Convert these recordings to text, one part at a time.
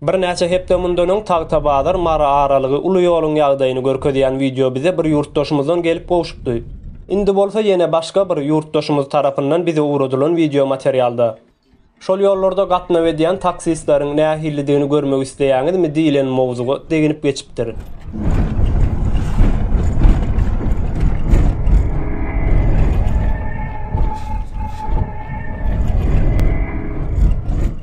Birnäçe hepde mundan öň Tagtabazar Mary aralygy uly ýoluň ýagdaýyny görkezýän wideo bize bir ýurtdaşymyzdan gelip gowşupdy. Indi bolsa ýene başga bir ýurtdaşymyz tarapyndan bize ugradylan wideo materialda. Şol ýollarda gatnaw edýän taksistleriň nähilidigini görmek isleýäňizmi diýlen mowzuga deginip geçipdir.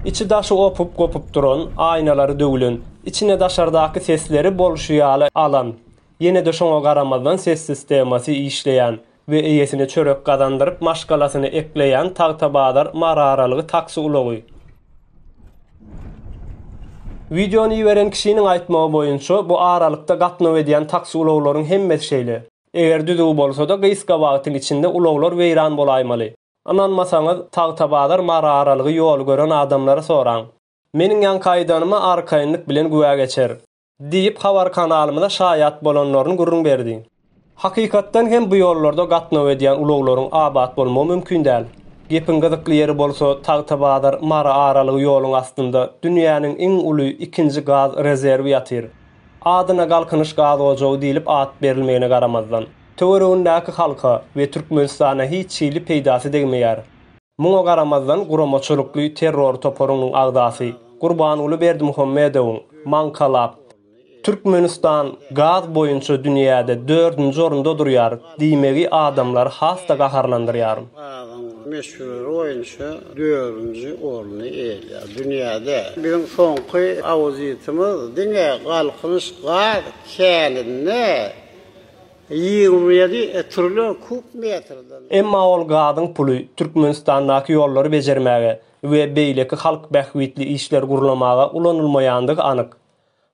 Içi daşy opup gopup duran, aýnalary döwlen, içine daşardaky sesleri bolşy ýaly alan, ýene-de şoňa garamazdan ses sistemasy işleýän, we eýesine çörek gazandyryp maşgalasyny ekleýän Tagtabazar Maraaralygy taksi ulagy. Wideony iberen kişiniň aýtmagy boýunça, bu aralykda gatnaw edýän taksi ulaglaryň hemmesi şeýle. Eger düzüw bolsa-da, gysga wagtyň içinde ulaglar weýran bolaýmaly. Ynanmasaňyz, Tagtabazar Maraaralygy ýoly gören adamlara soraň. Meniň ýaňky aýdanyma arkaýynlyk bilen güwä geçer. Diýip, habar kanalymyza şaýat bolanlaryny gürrüň berdi. Hakykatdan hem bu ýollarda gatnaw edýän ulaglaryň abat bolmagy mümkin däl. Gepiň gyzykly ýeri bolsa, Tagtabazar, Mary aralygy ýoluň astynda dünýäniň iň uly ikinji gaz rezerwi ýatyr. Adyna Galkynyş gaz ojagy diýlip at berilmegine garamazdan, töweregindäki halka we Türkmenistana hiç hili peýdasy degmeýär. Muňa garamazdan, guramaçylykly terror toparynyň agzasy Gurbanguly Berdimuhamedowyň maňkalap, Türkmenistan gaz boýunça dünýäde dördünji orunda durýar diýmegi adamlary has-da gaharlandyrýar. Gazyň möçberi boýunça dördünji orny eýeleýär dünýäde. Biziň soňky auditimiz diňe Galkynyş gaz käninde Ýigrimi ýedi trilion kub metrden. Emma ol gazyň puly Türkmenistandaky ýollary bejermäge we beýleki halk bähbitli işler gurlamaga ulanylmaýandygy anyk.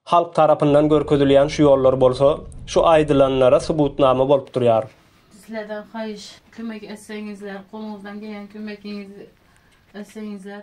Halk tarapyndan görkezilýän şu ýollar bolsa şu aýdylanlara subutnama bolup durýar. Sizlerden haýyş kömek etseňizler, goluňyzdan gelýän kömegiňizi etseňizler.